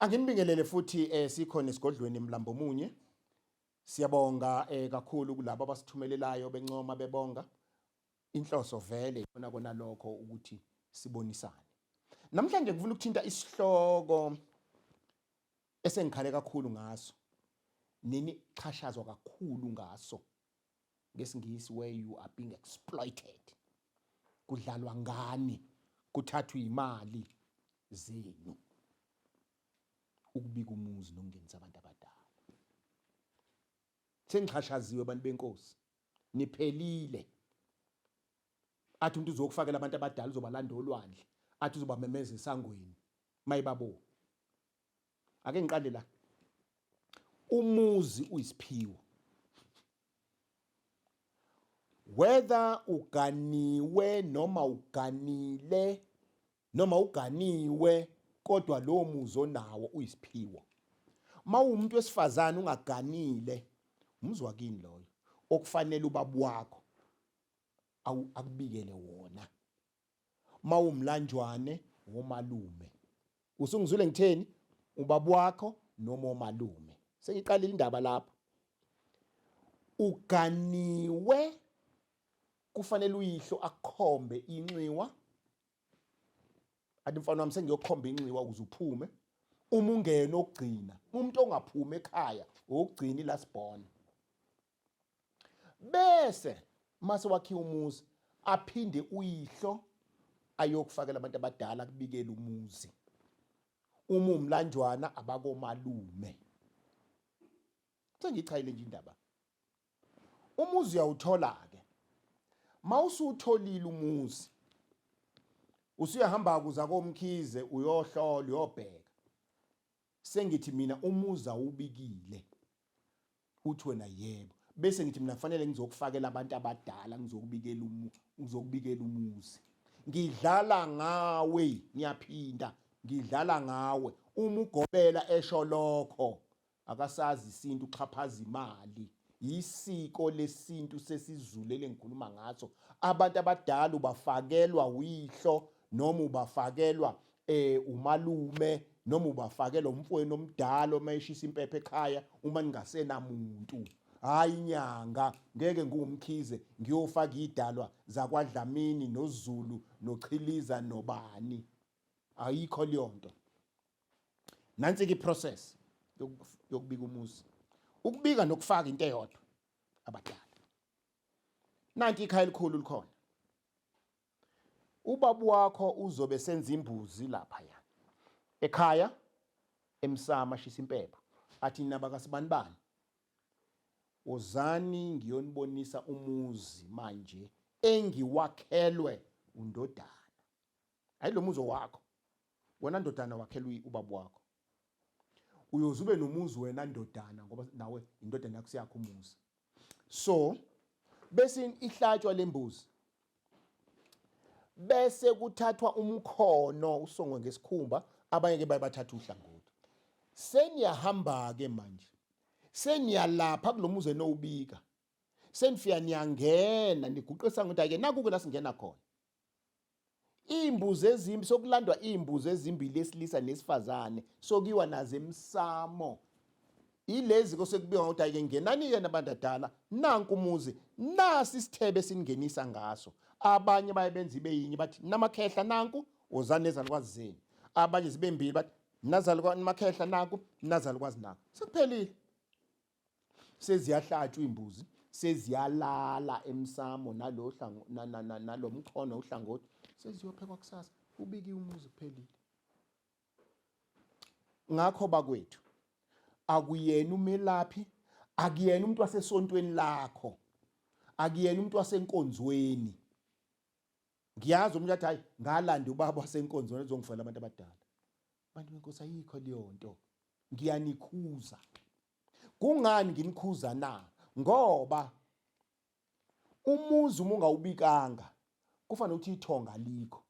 Anginibingelele futhi eh, sikhona esigodlweni Mlambomunye. Siyabonga eh, kakhulu kulabo abasithumelelayo bencoma bebonga. Inhloso vele ikona kona lokho ukuthi sibonisane. Namhlanje ngifuna ukuthinta isihloko esengikhale kakhulu ngaso. Nini xhashazwa kakhulu ngaso. ngesingisi where you are being exploited kudlalwa ngani kuthathwa imali zenu ukubika umuzi nokungenisa abantu abadala sengixhashaziwe abantu benkosi niphelile athi umuntu uzokufakela abantu abadala uzobalanda olwandle athi uzobamemeza esangweni mayibabo ake ngiqale la umuzi uyisiphiwo whether uganiwe noma uganile noma uganiwe kodwa lowo muzi onawo uyisiphiwo mawumuntu wesifazane ungaganile umuzwa kini loyo okufanele ubaba wakho akubikele wona mawumlanjwane womalume usungizwile ngitheni ubaba wakho noma omalume sengiqalile indaba lapho uganiwe kufanele uyihlo akhombe inxiwa athi mfana wami sengiyokhomba inxiwa ukuze uphume uma ungena okugcina umuntu ongaphumi ekhaya okugcina ilast born bese mase wakhiwa umuzi aphinde uyihlo ayokufakela abantu abadala kubikela umuzi uma umlanjwana abakomalume sengichayile nje indaba umuzi uyawuthola ke mawusutholile umuzi usuyahamba kuza komkhize uyohlola uyobheka sengithi mina umuzi awubikile Uthi wena yebo. Bese ngithi mina kufanele ngizokufakela abantu abadala ngizokubikela umu ngizokubikela umuzi. Ngidlala ngawe ngiyaphinda ngidlala ngawe uma ugobela esho lokho akasazi isintu uxhaphaza imali yisiko lesintu sesizulele ngikhuluma ngaso abantu abadala ubafakelwa uyihlo noma ubafakelwa eh umalume noma ubafakela umfweni omdala uma eshisa impepha ekhaya uma ningasena muntu hayi inyanga ngeke ngumkhize ngiyofaka idalwa zakwadlamini nozulu nochiliza nobani ayikho leyonto nansi ke process yokubika umuzi ukubika nokufaka into eyodwa abadala nanti ikhaya elikhulu likhona Ubaba wakho uzobe senza imbuzi lapha ya. Ekhaya emsama shisa impepho. Athi naba kasibanibani. Wozani ngiyonibonisa umuzi manje engiwakhelwe undodana. Hayi lo muzi wakho. Wena ndodana wakhelwe ubaba wakho. Uyoze ube nomuzi wena ndodana ngoba nawe indodana yakho siyakho umuzi. So bese ihlatshwa lembuzi. Bese kuthathwa umkhono usongwe ngesikhumba abanye ke bayabathatha uhlangothi. Seniyahamba ke manje. Seniyalapha kulomuzi enowubika. Senifika niyangena niguqisa ngokuthi ake naku ke la singena khona. Iimbuzi ezimbi sokulandwa iimbuzi ezimbili esilisa nesifazane sokiwa nazo emsamo. Ilezi kosekubiywa ukuthi ayike ngenani yena bandadala nanku umuzi nasi isithebe singenisa ngaso. Abanye baye benza ibe yinye bathi namakhehla nanku wozani nezalukwazi zenu. Abanye zibe mbili bathi nazalukwazi namakhehla nanku nazalukwazi nanku. Sekuphelile. seziyahlatshwa iy'mbuzi seziyalala emsamo nalo mkhono uhlangothi seziyophekwa kusasa ubikiwe umuzi kuphelile ngakho bakwethu akuyena umelaphi akuyena umuntu wasesontweni lakho akuyena umuntu wasenkonzweni ngiyazi umuntu athi hayi ngalanda ubaba wasenkonzweni ezongifela abantu abadala Bantu benkosi ayikho leyo nto. Ngiyanikhuza. Kungani nginikhuza na? Ngoba umuzi uma ungawubikanga kufanele ukuthi ithonga likho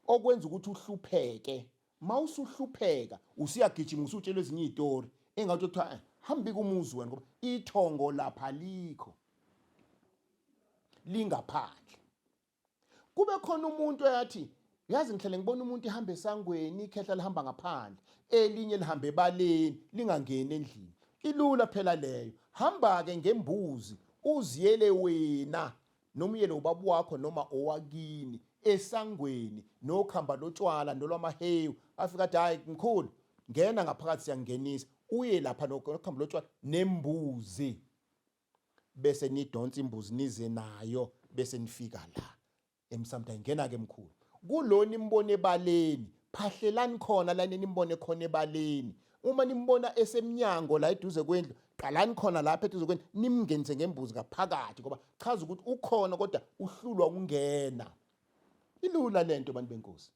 okwenza ukuthi uhlupheke mawusuhlupheka usiyagijima usutshelwe ezinye izitori engathi kuthiwa eh, hambi kumuzi wena ngoba ithongo lapha likho lingaphandle kube khona umuntu eyathi yazi ngihlale ngibona umuntu ihamba esangweni ikhehla lihamba ngaphandle elinye lihambe ebaleni lingangeni endlini ilula phela leyo hamba-ke ngembuzi uziyele wena noma uyele ubaba wakho noma owakini esangweni nokhamba lotshwala nolwamahewu afika athi hhayi mkhulu ngena ngaphakathi siyangenisa uye lapha nokhamba lotshwala nembuzi bese nidonsa imbuzi nize nayo bese nifika la emsamdani ngena ke mkhulu kulona imbone ebaleni phahlelani khona la nimbone khona ebaleni uma nimbona esemnyango la eduze kwendlu qalani khona lapha eduze kwendlu nimngenise ngembuzi ngaphakathi ngoba chaza ukuthi ukhona kodwa uhlulwa ukungena ilula lento bantu benkosi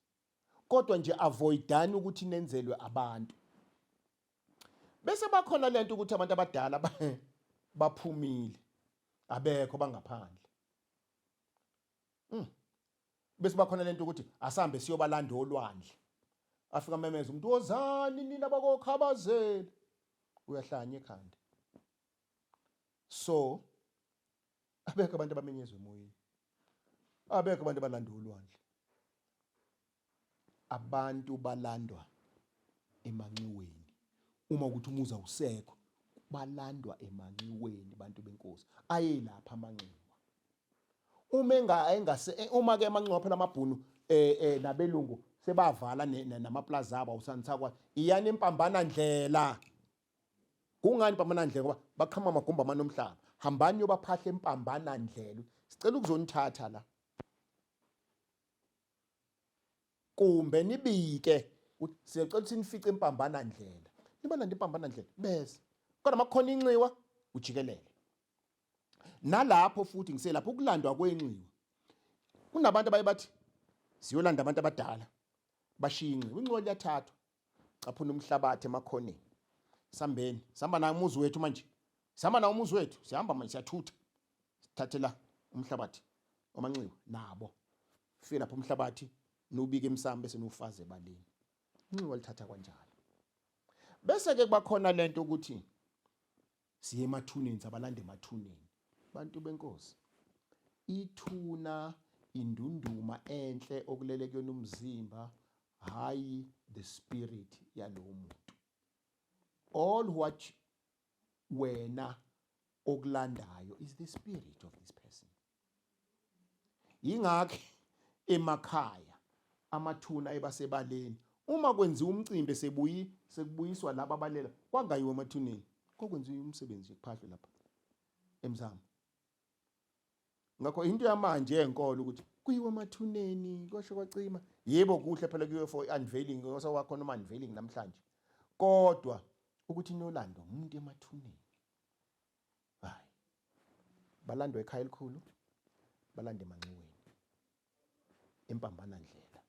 kodwa nje avoidani ukuthi nenzelwe abantu Bese bakhona lento ukuthi abantu abadala baphumile abekho bangaphandle. Mm. Bese bakhona lento ukuthi asambe siyobalanda olwandle. Afika memeza umuntu wozani nina bakokhabazela. Uyahlanya ekhanda. So abekho abantu abamenyezwe emoyeni. Abekho abantu abalanda olwandle. Abantu balandwa emanxiweni uma ukuthi umuzi awusekho, balandwa emanxiweni bantu benkosi. Ayelapha amanxiwa. Uma enga engase eh, uma ke amanxiwa phela amabhunu eh eh nabelungu sebavala namaplaza abo awusanisakwa iyani impambana ndlela. Kungani impambana ndlela ngoba baqhama amagumba amanomhlaba. Hambani yobaphahle impambana ndlela. Sicela ukuzonithatha la. kumbe nibike ukuthi siyacela ukuthi nifice impambana ndlela nibalanda impambana ndlela bese kodwa makukhona inxiwa ujikelele nalapho futhi ngiselapha ukulandwa kwenxiwa kunabantu abaye bathi siyolanda abantu abadala bashiye inxiwa inxiwa liyathathwa caphuna umhlabathi emakhoneni sambeni sihamba naye umuzi wethu manje sihamba nawo umuzi wethu sihamba manje siyathutha sithathela umhlabathi omanxiwa nabo fike lapho umhlabathi nubike emsamo bese nufaze ebaleni inxiwa lithatha kwanjalo bese ke kubakhona lento ukuthi Siye emathuneni sabalanda emathuneni. Bantu benkosi. Ithuna indunduma enhle okulele kuyona umzimba hayi the spirit yalowo muntu. All what wena okulandayo is the spirit of this person. Yingakho emakhaya amathuna ayebasebaleni uma kwenziwa umcimbi esebuyi sekubuyiswa laba abalela kwangayiwa emathuneni kokwenziwa umsebenzi kuphahlwe lapha emzamo ngakho into yamanje enkolo ukuthi kuyiwa emathuneni kwasho kwacima yebo kuhle phela kuyiwe for unveiling ngosa wakho noma unveiling namhlanje kodwa ukuthi inolando umuntu emathuneni Hayi. Balandwa ekhaya elikhulu, balande emanxiweni. Impambana ndlela.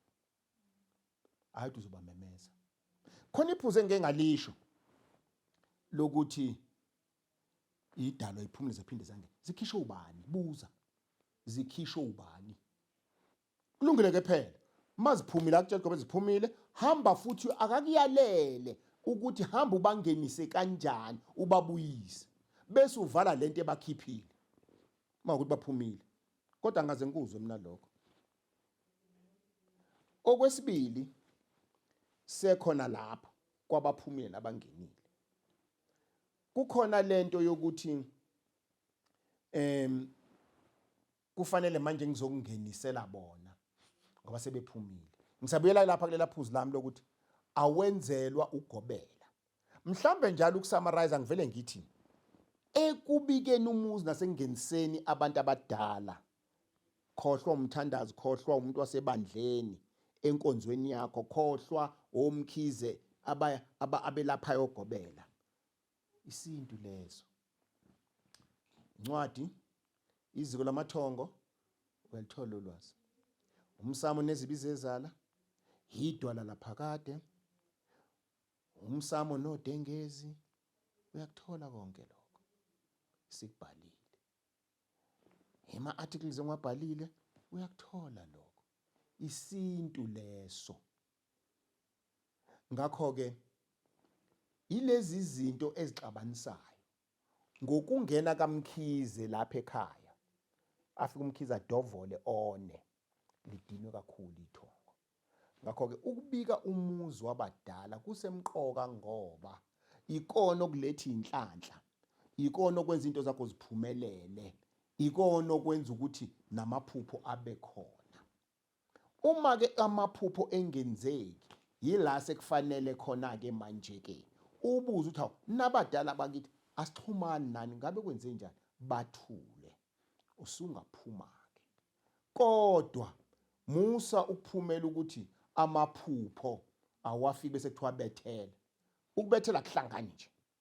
Hayi ukuthi uzobamemeza. Khona iphuze engike ngalisho lokuthi idalwa iphumule zephinde zange zikhishwe ubani buza zikhishwe ubani kulungile ke phela uma ziphumile akutshela gobe ziphumile hamba futhi akakuyalele ukuthi hamba ubangenise kanjani ubabuyise bese uvala lento ebakhiphile uma ukuthi baphumile kodwa ngaze ngikuzwe mina lokho okwesibili sekhona lapho kwabaphumile nabangenile kukhona lento yokuthi em kufanele manje ngizokungenisela bona ngoba sebephumile ngisabuyela lapha kulela phuzu lami lokuthi awenzelwa ugobela mhlambe njalo ukusummarize ngivele ngithi ekubikeni umuzi nasengeniseni abantu abadala khohlwa umthandazi khohlwa umuntu wasebandleni enkonzweni yakho khohlwa omkhize abelaphayo ogobela Isintu leso. Incwadi iziko lamathongo uyalithola ulwazi. Umsamo nezibi zezala yidwala laphakade. Umsamo nodengezi uyakuthola konke lokho. Sikubhalile. Ema articles engiwabhalile uyakuthola lokho. Isintu leso. Ngakho-ke, yilezi zinto ezixabanisayo ngokungena kaMkhize lapha ekhaya afike uMkhize adovole one lidinwe kakhulu ithongo ngakho-ke ukubika umuzi wabadala kusemqoka ngoba ikona okuletha inhlanhla ikona okwenza into zakho ziphumelele ikona okwenza ukuthi namaphupho abe khona Uma ke amaphupho engenzeki yila sekufanele khona ke manje ke ubuze uthi hawu nabadala bakithi asixhumani nani ngabe kwenze njani bathule usungaphuma ke kodwa musa ukuphumela ukuthi amaphupho awafiki bese kuthiwa bethela ukubethela kuhlangani nje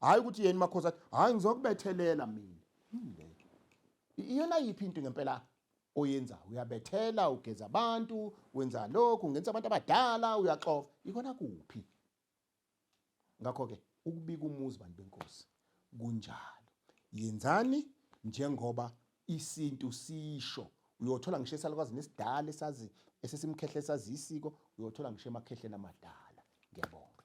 hayi ukuthi yena makhosi athi hayi ngizokubethelela mina yileke iyona yiphi into ngempela oyenza uyabethela ugeza abantu wenza lokhu ungenza abantu abadala uyaxova ikona kuphi ngakho ke ukubika umuzi bantu benkosi kunjalo yenzani njengoba isintu sisho uyothola ngisho esalukwazi nesidala esazi esesimkhehle sazi isiko uyothola ngisho emakhehleni amadala ngiyabonga